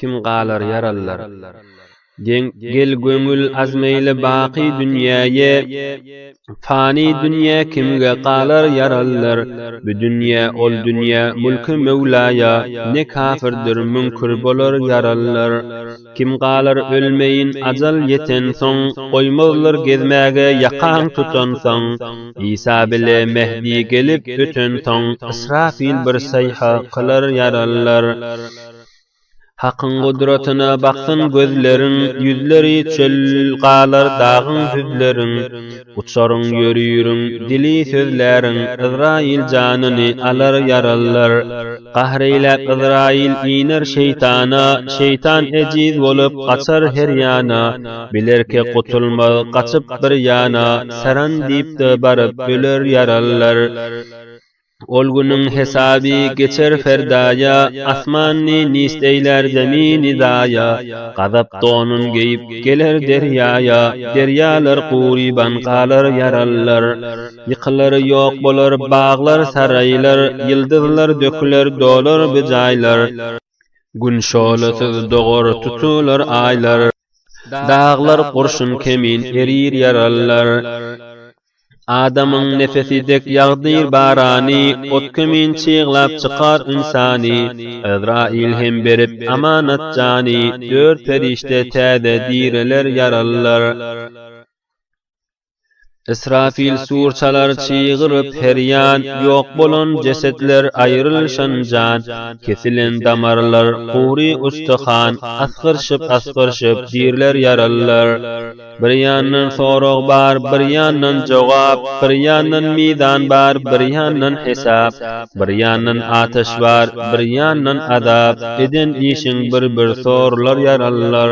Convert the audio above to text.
kim galar ýaralylar. Deň gel göňül azmeýle baky dünýäýe, fani dünýä kimge galar ýaralylar. Bu dünýä ol dünýä mülki Möwlaýa, ne kafirdir müňkür bolar ýaralylar. Kim galar ölmeýin ajal ýetensoň, goýmazlar gezmäge ýakaň tutansoň. Isa bile Mehdi gelip ötensoň, Ysrafyl bir saýha kylar ýaralylar. Hakyň gudratyna baksyn gözleriň, Ýüzleri çöl galar dagyň düzleriň. Uçaryň ýörüriň, dili sözläriň, Yzraýyl janyny alar ýaralylar. Gahr eýläp Yzraýyl iner şeýtana, Şeýtan ejiz bolup gaçar her ýana. Bilerke gutulmaz gaçyp bir ýana, Saran diýip-de baryp öler ýarallar. Ol günüň hesaby geçer ferdaýa, Asmany nist eýlär zemini zaýa. Gazap donun geýip geler derýaýa, Derýalar guryban galar ýarallar. Ýykylar ýok bolar baglar saraýlar, Ýyldyzlar döküler dolar bu jaýlar. Gün şöhlesiz dogar tutular aýlar, Daglar gurşun kemin erir ýarallar. Adamyň nepesi dek ýagdyr barany, Ot kemin çyglap çykar ynsany. Ezraýyl hem berip amanat jany, Dört perişde täze direler ýarallar. Ysrafil sur çalar çygyryp her ýan, Ýok bolan jesetler, aýrylyşan jan, Kesilen damarlar, gury ustyhan, Asgyryşyp-asgyryşyp dirler ýaralylar. Bir ýandan sorag bar, bir ýandan jogap, Bir ýandan mizan bar, bir ýandan hesap, Bir ýandan ataş bar, bir ýandan azap, Eden işiň bir-bir sorular ýaralylar.